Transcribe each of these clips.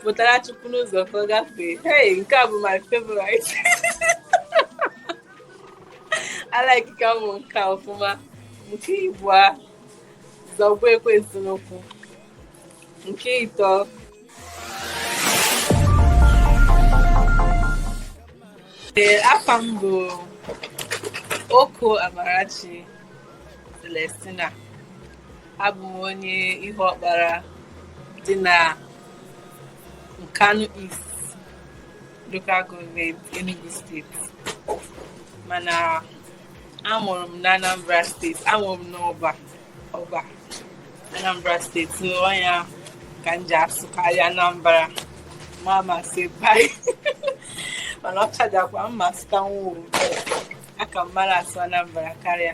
pụtara chukwu n'ụzọ ka ọ gafee hey nke a bụ my favorite alaikika mụ nke ọfụma nke ibua zọgbu ekwensu n'ụkwụ nke ịtọ ee afa m bụ oko amarachi celestina abụ m onye Ihuọkpara dị na Nkanu East local gọọmenti Enugu steeti mana amụrụ m na Anambra steeti amụrụ m n'Ọba Ọba Anambra steeti ọ nya ka m ji asụkarị Anambra ma ama m asụ be anyị mana ọ chajakwa mma sụta nwa aka m mara asụ Anambra karịa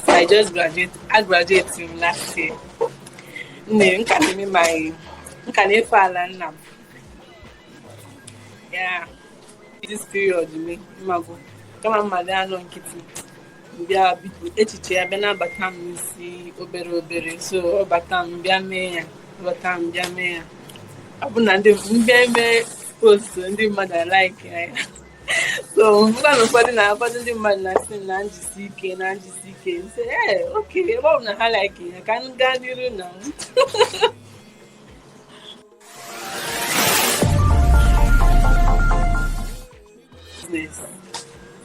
I just graduate. Agraduate m last year. Nne, m ka na-eme my m ka na-efe ala nna m. Yeah. This period me mago. Kama mmadụ anọ nkịtị. Bịa biko echiche a bịa na-abata m n'isi obere obere so ọ bata m bịa mee ya ọ bata m bịa mee ya. Ọ bụ na m bịa eme post ndị mmadụ alaiki ya. so m fụrụ na ụfọdụ na ụfọdụ ndị mmadụ na-asị m na m jisi ike na m jisi ike m sị ee okay ebe ọ bụ na ha like ya ka m gaa n'iru na m business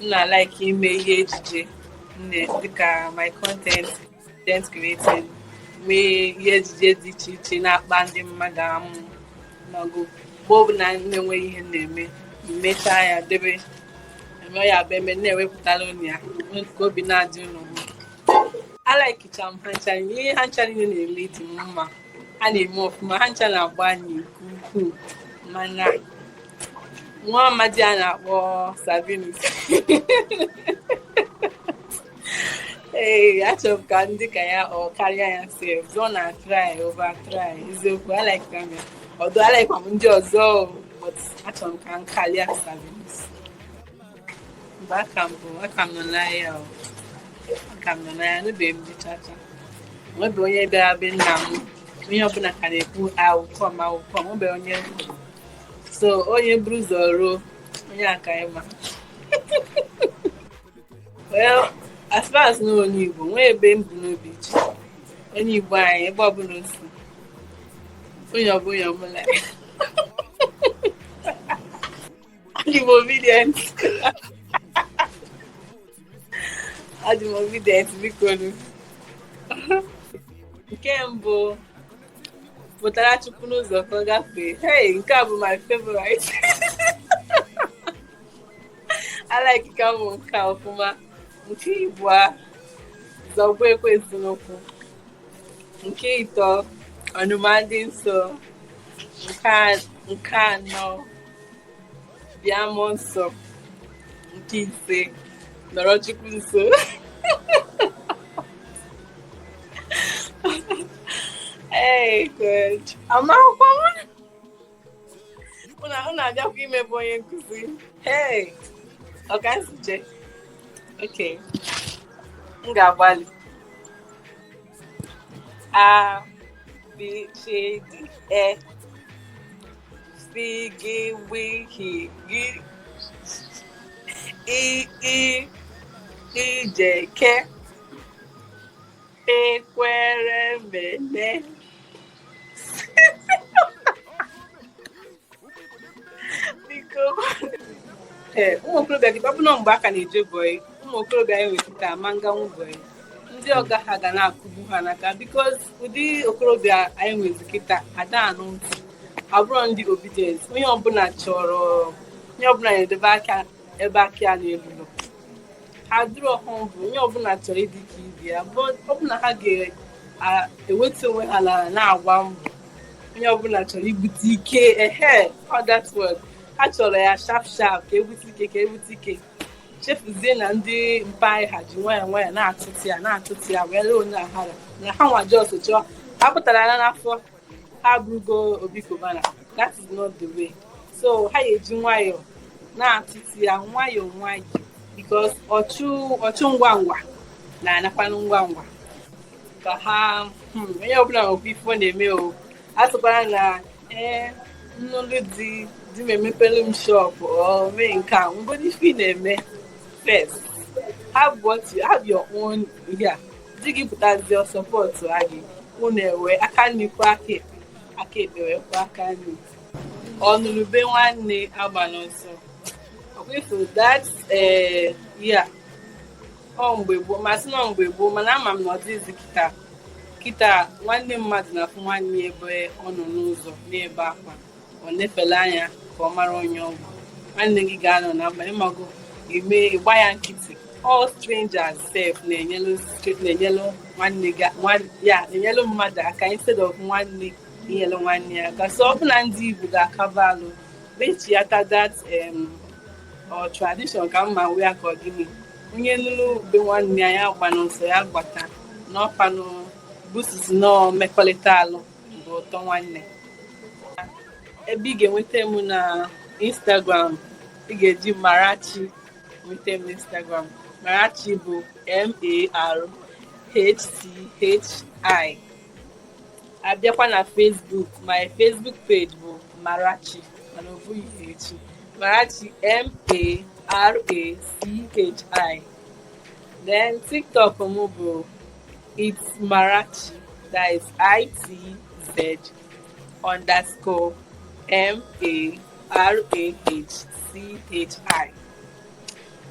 m na-like ime ihe ejije m na- dịka my content content creating mee ihe ejije dị iche iche na-akpa ndị mmadụ amụ mago mgbe ọbụla na-enweghị ihe na-eme m mechaa ya debe eme ya bụ eme na-ewepụtara ụnụ ya ka obi na-adị ụnụ mma alaikicha m ha ncha ihe ha ncha niile na-eme dị m mma ha na-eme ọfụma ha ncha na-agbanị nke ukwuu mana nwa amadi a na-akpọ sabinus Ee, achọrọ m ka m dị ka ya or karịa ya sef ọ na-try over try eziokwu alaika m ya ọdụ alaikwa m ndị ọzọ o, but achọrọ m ka m karịa sabinus mba aka m bụ aka m nọ n'ahịa o aka m nọ n'ahịa anụbeghị m di chacha enwebeghị onye bịara be nna m onye ọbụla ka na-ekwu okwu ọnụ okwu ọnụ enwebeghị onye m hụrụ. so onye buru ụzọ ruo onye aka ịma Well, as far as na onye Igbo nwee ebumnobi ịchị onye Igbo anyị ebe ọbụla o si onye ọbụla ọbụla adị m obedient adị m obedient biko nu nke mbụ pụtara chukwu n'ụzọ ka ọ gafee hey nke a bụ my favorite alaikikwa m nke a ọfụma nke ibua zọgbu ekwensu n'ụkwụ nke ịtọ ọnụma ndị nsọ nke anọ bịa mụọ nsọ nke ise nọrọ chukwu nso Hey, good. Amakwa Unu na-abịakwa imebe onye nkụzi. Hey! Ọ ka esi je? Okay. M ga-agbalị. A, B, C, D, E. Fi, gị, wi, hi, gị. I, i, ije, ke. Ekwere, mene. ee ụmụ okorobịa gị ọ bụ na mgbe a ka na-eje bọị ụmụ okorobịa anyị nwezi kịta ma nganwu bọị ndị ọga ha ga na-akụgbu ha n'aka because ụdị okorobịa anyị nwezi kịta ada anụ ntị abụrọ ndị obedient onye ọbụla chọrọ onye ọbụla na-edebe aka ebe aka ya na-elurọ adịrị ọhụụ bụ onye ọbụla chọrọ ịdị ka ibe ya bụ ọ bụ na ha ga-ewetu onwe ha ala na-agba mbọ onye ọbụla chọrọ ibute ike ehe that word ha chọrọ ya sharp sharp ka ebute ike ka ebute ike chefuzie na ndị mpa anyị ha ji nwayọ nwayọ na-atụtụ ya na-atụtụ ya wee lee onye ahara na ha nwa just chọọ ha pụtara ya n'afọ ha abụrụgo Obi Cubana that is not the way so ha ga-eji nwayọọ na-atụtụ ya nwayọọ nwayọọ because ọchụ ọchụ ngwa ngwa na-anakwanụ ngwa ngwa ka ha hmm, onye ọbụla nwekwa ife ọ na-eme o asịkwala na ee eh, m nụlụ di di m emepelu m shop or mee nke a nwegodi ife ị na-eme first have what you have your own yeah di gị pụtazi ọ sọpọtụa gị unu ewe aka nni kwọọ aka ekpe aka ekpe wee kwọọ aka nni ọnụlụ ube nwanne agbana ọsọ ọkwa ifo that eh, yeah ọ mgbe gboo ma sị na ọ mgbe gboo mana ama m na ọ dịghịzi kịta kịta nwanne mmadụ na-afụ nwanne ya ebe ọ nọ n'ụzọ na-ebe akwa ọ na-efele anya ka ọ mara onye ọ bụ nwanne gị ga-anọ na mkpa ị mago ime ịgba ya nkịtị all strangers sef na-enyelu stre- na-enyelu nwanne gị nwan- ya na-enyelu mmadụ aka instead of nwanne inyelu nwanne ya aka so ọ bụ na ndị Igbo ga-akaba alụ mechiata that em, ọ tradition ka mma wee akọ gịnị onye nụrụ ube nwanne ya ya agbana ọsọ ya gbata n'ọfanụ busis nọọ mmekọrịta alụ bụ ụtọ nwanne ebe ị ga-enweta m na Instagram ị ga-eji marachi nweta m na Instagram marachi bụ m-a-r-h-c-h-i abịakwa na Facebook my Facebook page bụ marachi mana o bughị h marachi m-a-r-a-c-h-i then TikTok m bụ It's Marachi. That is I-T-Z underscore M-A-R-A-H-C-H-I.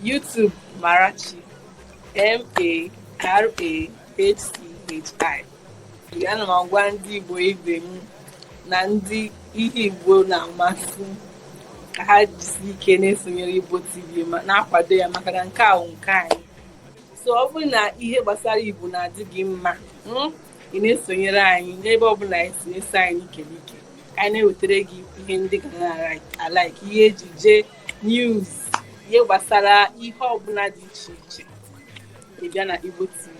YouTube Marachi. M-A-R-A-H-C-H-I. Ana m agwa ndị Igbo ibe m na ndị ihe Igbo na-amasị ka ha jisi ike na-esonyere Igbo TV ma na-akwado ya maka na nke a wụ nke anyị. so ọ bụrụ na ihe gbasara igbo na-adị gị mma hmm, ị na-esonyere anyị n'ebe ọ bụla e si eso anyị n'ike n'ike ka anyị na-ewetara gị ihe ndị ị ga na-alike ihe ejije news ihe gbasara ihe ọbụla dị iche iche ị bịa na igbo tv